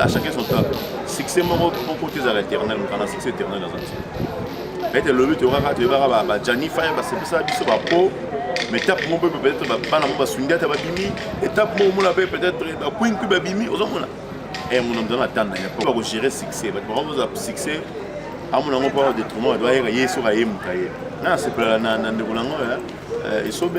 à chacun son temps succès moko moko te ezala éternel moto na succès éternel aza te peut-être lobi toyokaka toyebaka bajani fire basepesa biso bapo mais étape moko mpe peut-être bana moko basungi ata babimi étape moko omona mpe peut-être bakwinki babimi ozomona e mona moto na tanda ya mpo bakogere succès bato bako kozala succès amona yango mpo detriment bato bayeka ye soki ayemuka ye na asepelala na ndeko na yango esobe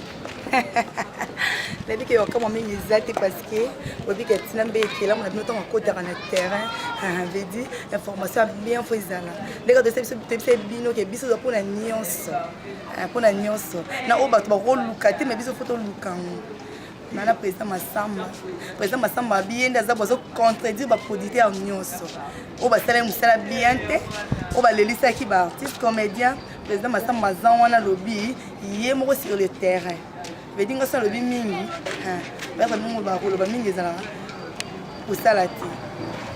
nayebi ke yokamwa mingi eza te parce que oyebi ke ntina mbe ekelamu na bino ntango akotaka na terrain vedi information ya bien fo ezala ndenge toyebisa bino ke biso eza mpo na nyonso mpo na nyonso na oyo bato bakoluka te ma biso fo toluka yango na na président masamba président masamba abiye nde aza bozo contredire baproducteur nyonso oyo basalaki mosala bien te oyo balelisaki baartiste comédien président masamba aza wana alobi ye moko sur le terrain vedi ngosi alobi mingi bayaka mingi oloba koloba mingi ezalaka kosala te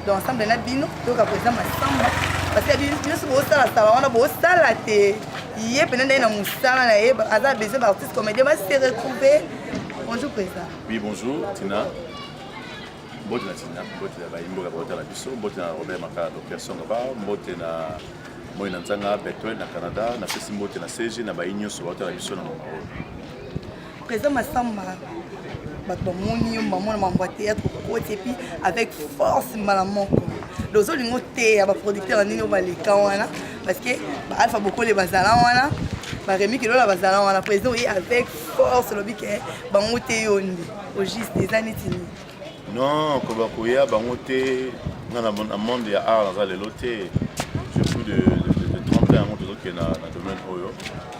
donc ensemble na bino toyoka koza masamba parce que nyonso bosalasala wana bosala te ye mpena ndai na mosala na ye aza besoin baartiste comédien base retrouve bonjour président oui bonjour tina mbote na tina mbote na bayimboka baotala biso mbote na robert makala docteur songa ba mbote na moi na nzanga Bethuel na Canada napesi mbote na CG na bayi nyonso baotala biso na mama oyo président Massamba bato bamoni yo bamona mambo ya théâtre okoti epuis avec force mbala moko donc ozolinga oteya baproducteur ya ndenge oyo baleka wana parce que baalpha bokole bazala wana baremi kilola bazala wana président oye avec force olobi ke bango te yo nde au juste eza neti nini Non, que bakoya bango te. Nga na na monde ya art naza lelo te. Surtout de de, de 30 ans yango tozo kenda na domaine oyo.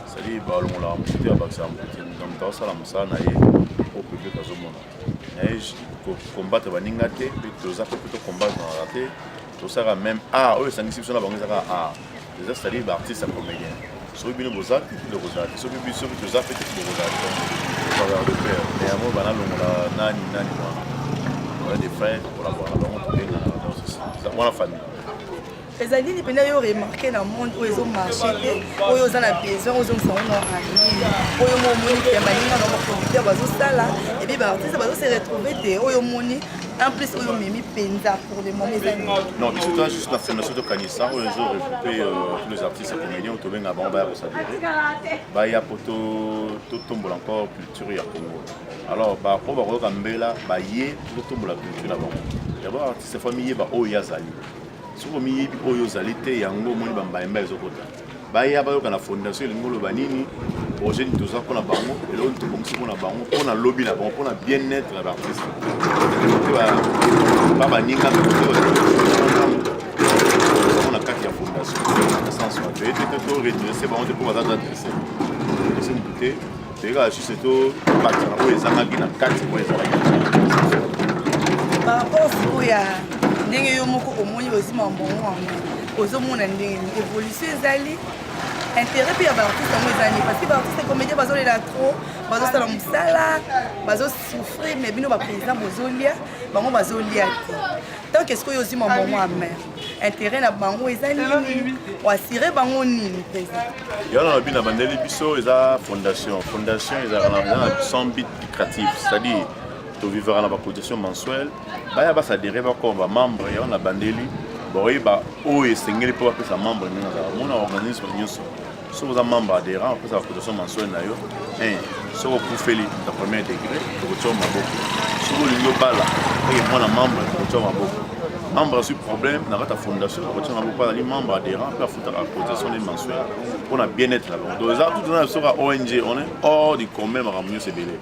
C'est-à-dire balongolaka moto te abakisaka moto te. Moto moto asala mosala na ye au public azomona. Mais ko combattre baninga te, pe toza pe to combattre na te. Tosaka même art oyo esangisi biso na bango ezaka art. eza cetadire baartiste ya comédien soki bino boza te bino kozala te soki biso soki toza mpe te bokozala te faveur de père mais yango banalongola nani nani wana oya des frères kolabora na bango tobengana na danse eza mwana famille eza nini mpena yo remarke na monde oyo ezomarche te oyo oza na besoin ozongisa ngo na arline oyo mo omoni ke baninga na baproducteur bazosala ebi baartiste bazose retrouve te oyo omoni En plus, oyo omemi penza pour le moment eza nini? Non, biso toza juste na fondation tokanisa oyo ezo regroupe euh, tous les artistes ya comédien oyo tobenga bango baya kosadire baya mpo to- totombola encore culture ya congo alors ba- oyo bakoyoka mbela baye mpo totombola culture na bango d'abord artiste fo miyeba oyo ye azali soki omiyebi oyo ozali te yango omoni bambayemba ezokota baya bayoka na fondation elingi oloba nini projet nini toza mpona bango eloko nini tobongisi mpona bango mpona lobi na bango mpona bien être ya baartiste ba baninga na kati ya fondation na sens wana toyete to redresse bango te mpo baza adresse esi motu te Teka juste to bakisa na oyo ezangaki na kati oyo ezalaki. Par rapport sikoyo ya ndenge yo moko omoni ozima mbongo yango ozomona ndenge nini évolution ezali intérêt mpe ya baartiste yango ezali parce que baartiste comédien bazolela trop bazosala mosala bazosouffrir mais bino baprésident bozolia bango bazolia te tant que sikoyo ozima mbongo ya mare interet na bango eza nini oasire bango nini mpenza yo na lobi na bandeli biso eza fondation fondation ezalaka na sans but lucratif c'est-à-dire tovivaka na bacotisation mensuelle baya basadere bakoma bamembre yango na bandeli bakoyeba oyo esengeli mpo bapesa membre ndenge azala mona organisme nyonso soki oza membre adhérent opesaka cotisation mensuel na yo eh, soki okufeli ta premier degré tokotia yo maboko soki olingi obala oye eh, mwana membre tokotia yo maboko membre azwi problème na kati ya fondation tokotia maboko mpo azali membre adhérent mpe afutaka cotisation ne mensuel mpo na bien être na bango donc eza tutana na soka ong on est hors du commun makambo nyonso ebele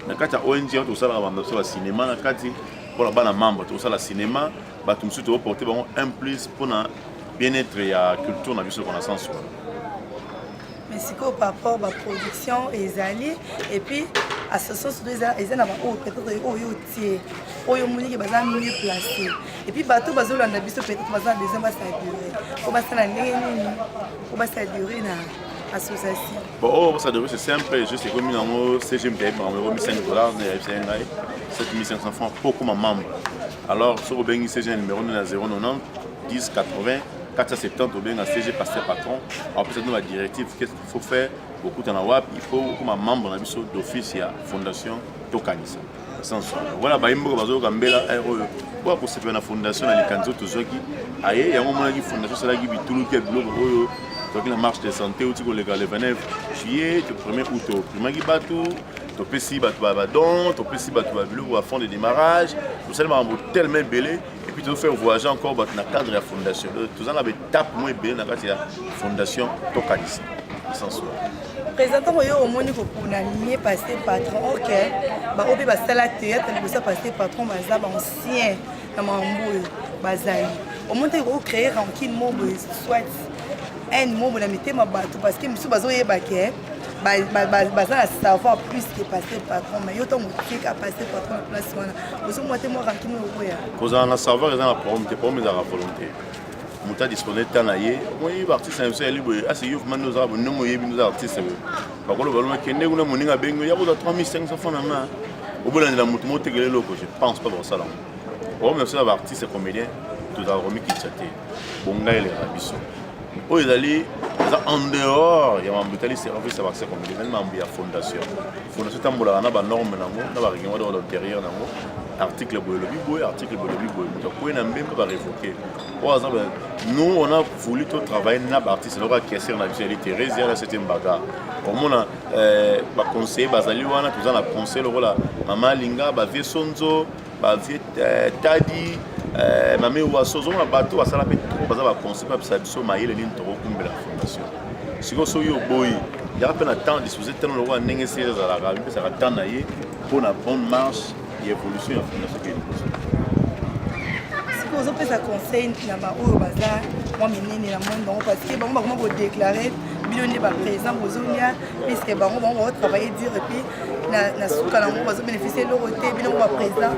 na kati ya ong yango tosalaka bambe biso bacinema na kati mpo na bana membre tokosala cinema bato mosusu tokoporte bango un plus mpo na bien être ya culture na biso ekona sens wana mais sikoyo par rapport baproduction ezali et puis association surtout eza na baoyo peut-être oyo otie oyo omoniki baza mieux placé et puis bato bazolanda biso peut-être baza na besoin basadure po basala ndenge nini po basadure na association bon oyo oh, basadure c'est simple juste ekomi nango cgm tayebi bango ekomi 5 dollars na yayebisa ye ngai 7500 francs po okoma membre alors soki obengi cgm numéro nde na 090 10 80 470 tobenga cg pasteur patron apesa bino badirective qu'est-ce qu'il faut faire bokutana wapi il faut okoma membre na biso d'office ya fondation tokanisa voilà baye mboka bazoyoka mbela eh, oyo mpo akosepela na fondation na likanisi oyo tozwaki aye yango omonaki fondation esalaki bituluki ya biloko oyo tozwaki na marche de santé outi koleka le 29 juillet to premier août toprimaki bato topesi bato badon topesi bato babiloko ba fond de démarrage tosali makambo telema ebele Et puis, nous faisons voyager encore dans le cadre de la fondation. Nous avons des tapes moins bien dans la fondation Tokalis. Sans soi. présentant oyo omoni kokuna mie passe patron ok bango mpe basala théâtre liboso passe patron baza baancien na mambo oyo bazali omoni te ekoki créer rankine mo boye soit haine mo boye na mitema bato parce que mosusu bazoyeba ke baza na savoir plus ke passe patron mais yo ntango otika passe patron na place wana kozala na savoir eza na problème te problème ezalaka volonté moto adispone ta na ye okoyebi baartiste na biso yali boye asi yo vraimen ozala bonongo oyebi ndoza artiste boye bakoloba loma kende kuna moninga abengi yo yakozwa 3500 franc na main obolandela moto motekela eloko je pense pas bakosala yango problème na biso na baartiste comédien tozalaka komikitisa te bonga eleka biso oyo ezali eza en dehors ya mambo etali service ya baccès communauté ezali mambo ya fondation fondation etambolaka na banorme nango na barèglement de l'intérieur nango article boye elobi boye article boye elobi boye moto akwei na mbembe barevoke oyo aza nous on a voulu to travailler na baartiste eloko ya kesere na biso yali therese yana sete mbaga omona euh, baconseiller bazali wana toza na conseil lokola mama alinga bavie sonzo ba vieux euh, tadi euh, mame waso ozomona bato basala mpe trop baza baconseil bapesa biso mayele nini tokokumbela fondation sikoyo soki oboyi yaka mpe na temps dispose tano lokola ndenge esili ezalaka amipesaka temps na ye mpo na bonne marche ya évolution ya fondation ke liboso sikoyo ozopesa conseil na baoyo baza mwa minene na monde bango parce que bango bakoma kodeklare bino nde baprésent bozolia puisque bango bango baotravaille dire mpe na suka na yango bazobeneficie eloko te bino ngo baprésident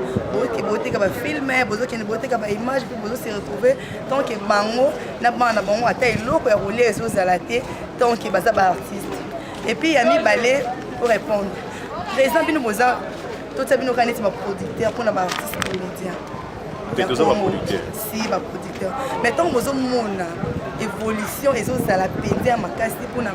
boteka bafilme bozokende boteka baimage mpe bozose retrouve tant ke bango na bana na bango ata eloko ya kolia ezozala te tant ke baza baartiste epuis ya mibale orépondre président bino boza totia bino kaka neti baproducteur mpona baartiste comédien ya congo si baproducteur mais ntango bozomona évolution ezozala mpenza ya makasi mpona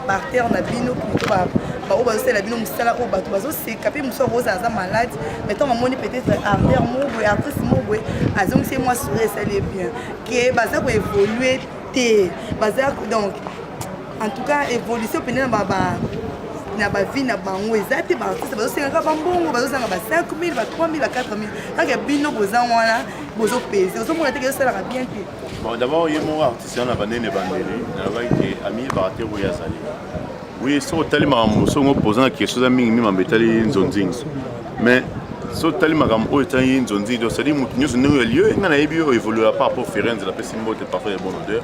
baartere na bino plutôt baoyo bazosalela bino mosala oyo bato bazoseka mpe mosusu akozala aza malade mais ntango amoni peut-être artere moko boye artiste moko boye azongisi ye mwa souri esali ye bien ke baza koévolue te baza donc en tout cas évolution pene na ba na bavi na bango eza te baartiste bazosengaka bambongo bazozanga ba 5000 ba 3000 ba 4000 kaka bino boza wana bozopese ozomona teke ezosalaka bien te bon d'abord ye moko artiste wana banene bandele nalobaki ke amiyebaka te oyo azali oui soki otali makambo songo mpozana question eza mingi mimambo etali nzonzingi mais so tali makambo oyo etali ye nzonzi ndio cetadi moto nyonso ndenge oyo aliyo ngai nayebi oyo evoluera par rapport ferenze napesi mbote parfum ya bon odeur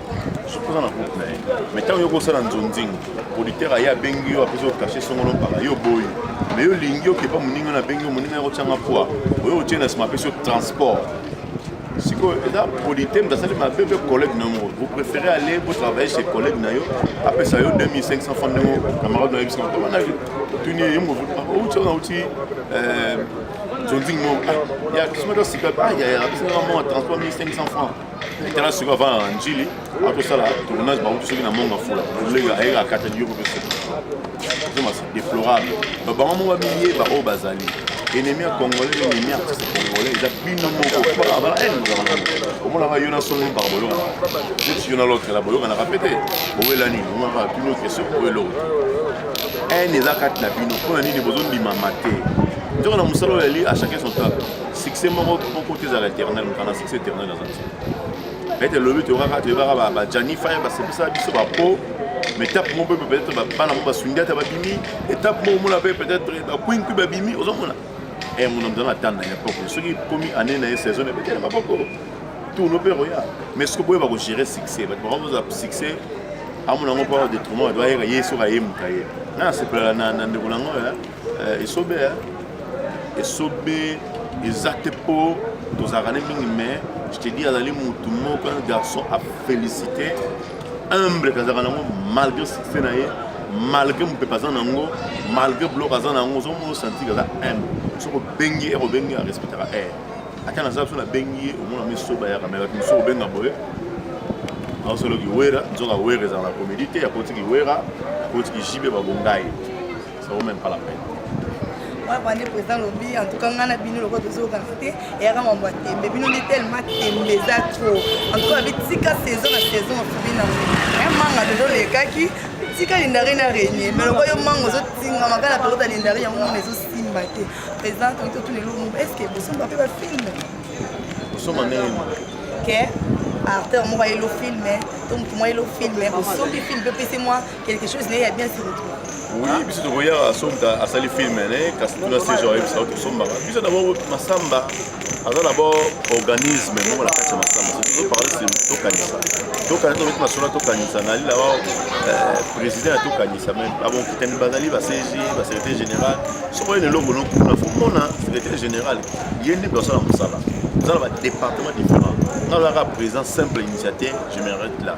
sokoza na groupe na ye mais ntango yo kosala nzonzingo producteur aye abengi yo apesi okache songolo mpaka yo boyi me yo olingi okepa moninga na abengi yo moninga yako tyanga poi oyo otie na nsima apesi yo transport sikoyo eza polite moto asali mabe mpe collègue na yango vous préférez aller botravaille chez collègue na yo apesa yo 2500 franc ndenge camarade na yo bisika wana tuni ye mo outi wana outi zonzing mo ya kisima to sika ayaya bisinga mwa transport 1500 franc tala sikoyo avanda na njili atosala tournage bauti soki na monga fula olega ayeka akatani yo mpe deplorable babango moko bamiyeba oyo bazali ennemi ya congolais ennemi ya artiste congolais eza bino moko mpaka bala ene ozala nango omonaka yo na solo mpaka boyokana neti yo na lotre la boyokanaka mpe te owela nini omonaka bino question oyo eloko ene eza kati na bino mpo na nini bozondimama te nzoko na mosala oyo yali achacun son table succès moko moko te ezala éternel mokana succès éternel aza te Peut-être lobi tokaka toyebaka ba ba Gianni Fire basepesa biso ba po mais étape moko mpe peut-être bana moko basungi ata babimi étape moko omona mpe peut-être bakwing mpe babimi ozomona e mona mzala na tanda ya poko soki ekomi année na ye saison na ebetela maboko tourno mpe ekoya mais soki boye bakogere succès bato bakoza succès amona yango mpo detriment bato bayeka ye soki ayemuka ye na nasepelala na ndeko na yango esobe esobe eza te mpo tozalaka ne mingi mais je te dis azali motu moko un garçon a félicité humble kazalaka nango malgré succès na ye malgré mopepe aza nango malgré blok aza nango ozomona osanti kaza humble soki obengi ye obengi arespectaka aire ata naza biso nabengi ye omona misoba yaka me bato mosusu obenga boye aosoloki wera nzoka wera ezala na comédie te akotiki wera akotiki jibe babongai Ça vaut même pas la peine. Moi, bande président lobby, en tout cas, ngana bino loko tozo kanate, et yaka mambo tembe, bino ni tellement tembe za trop. En tout cas, avec tika saison na saison en fubina. Un manga de dole kaki, tika lindari na régner, mais loko yo mango zo tinga makala pelo ta lindari ya mwana zo simba te. Président, quand tout les lomo, est-ce que vous sommes pas fait film? Nous sommes en Que acteur moko ayeli ofilme to motu moko ayeli ofilme osombi filme mpe opesi mwa quelque chose naye ya bien se retrouve oui biso tokoyaka somta asali film ne kasi tuna se genre yebisa tosombaka biso dabord masamba aza dabord organisme moko na kati ya masamba tozoparle se tokanisa tokanisa tobeti masolo ya tokanisa nali dabord euh, président ya tokanisa meme abonkitani bazali basg basecrétaire général soko ye leloko nokuna fomona secrétaire général ye nde basala mosala eza na badépartement différent nazalaka président simple initiateur je me arrête là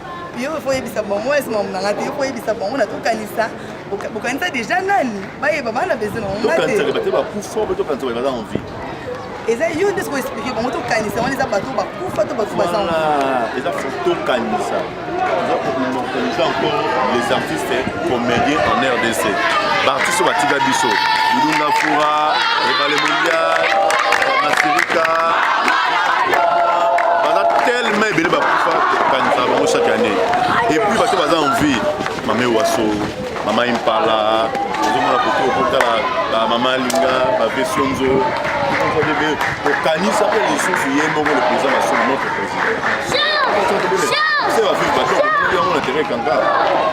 yo faut yebisa bango wana nsima mona nga te yo faut yebisa bango na tokanisa bokanisa déjà nani bayeba bana besoin nango nga te tokanisa te bakufa mpe tokanisa baye baza en vie eza yo nde soki explike bango tokanisa wana eza bato bakufa to bato baza eza tokanisa toza koimmortalisa encore les artistes comedien en rdc baartiste oyo batika biso bilunga fura ebale mondial masirika baza tellement ebele bakufa kokanisa bango chaque année epuis bato baza en vie mame waso mama impala ozomona kote okotala bamama alinga bavesonzo okanisa mpe lisusu ye moko le président masolo notre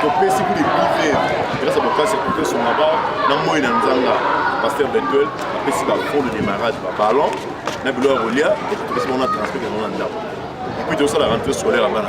topesi kuli bive grâce à bokasi ya kotoso maba na moi na nzanga pasteur betuel apesi bafond de démarrage baballon na bilo ya kolia epi topesi bango na transport yango na ndako epuis tosala rentrée scolaire ya bana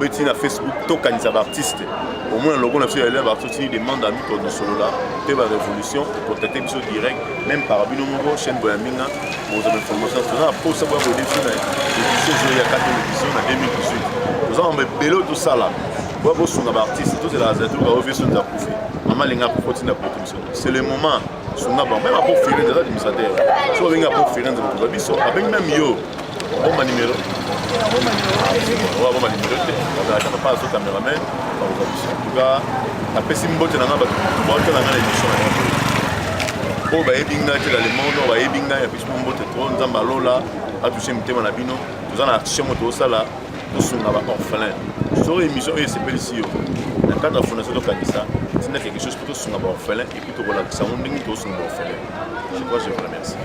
beti na facebook tokanisa baartiste omona logo na biso ya elève artiste ni demande ami to dosolola mpe barévolution contacte biso direct même par bino moko chaîne boya minga bozwa bainformation toza na mposa boya koyede biso na édition ezoyi ya kati édition na 2018 toza mambo ebele oyo tosala boya kosunga baartiste tozela azatuka oyo biso nza kufi mama alinga kufi otinda poto biso c'est le moment sunga bango meme apo firenze aza administrateur soki obengi apo firenze mokonzi wa biso abengi meme yo abomba nimero abomba nimero te azalaka papa azo cameraman bakoza biso entuka napesi mbote na nga bato baotala nga na émission na yango oyo bayebi ngai te na le monde oyo bayebi ngai napesi mo mbote to nzambe alola atouche mitema na bino toza na action moto osala tosunga ba orphelin soki émission oyo esepelisi yo na cadre ya fondation tokanisa tina quelque chose mpo tosunga ba orphelin Kutu kolakisa yango ndenge tosunga ofele. Je crois je vous remercie.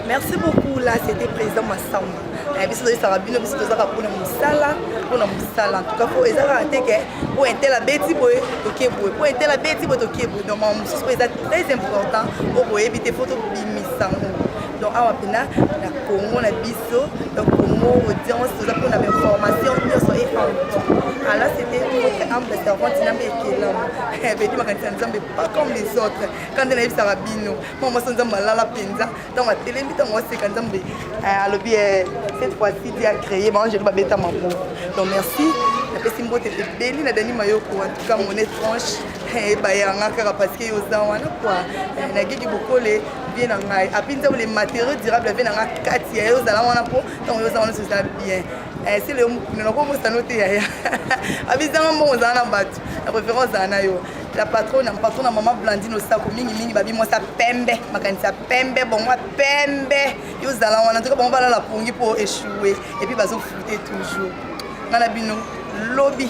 Merci beaucoup là c'était président Massamba. Eh, biso toyesaka bino biso tozaka mpona mosala mpona mosala entuka po eza kaka te ke po intel abeti boye tokie boye po intel abeti boye tokie boye donc makambo mosusu po eza très important oyo boyebi te po tobimisa yango donc awa mpena na congo na biso donc congo audience toza mpona bainformation nyonso e alors c'était notre humble servante na mbe ekelama bedi makanisa nzambe pas comme les autres quand nde nayebisaka bino mwa mwasi nzambe alala mpenza ntango atelemi ntango aseka nzambe alobi cette fois-ci di acréé baangelo babeta maboko donc merci napesi mbote ebeli na dani mayoko en tout cas mon étrange ebayanga kaka parce que oza wana kua nagigi bokole vie na ngai apui ntango le matériau durable ya vie na ngai kati ya ye ozala wana mpo ntango yoza wana soza bien eh, sele naloko mosano te yaya abizanga mbongo ozala na bato na préférence ozala na yo la patronne ya patron na mama blandine osako mingimingi babi mwasi ya pembe makanisi ya pembe bongo ya pembe yo ozala wana ntoka bango balala pongi mpo echoue epuis bazofute toujours ngai na bino lobi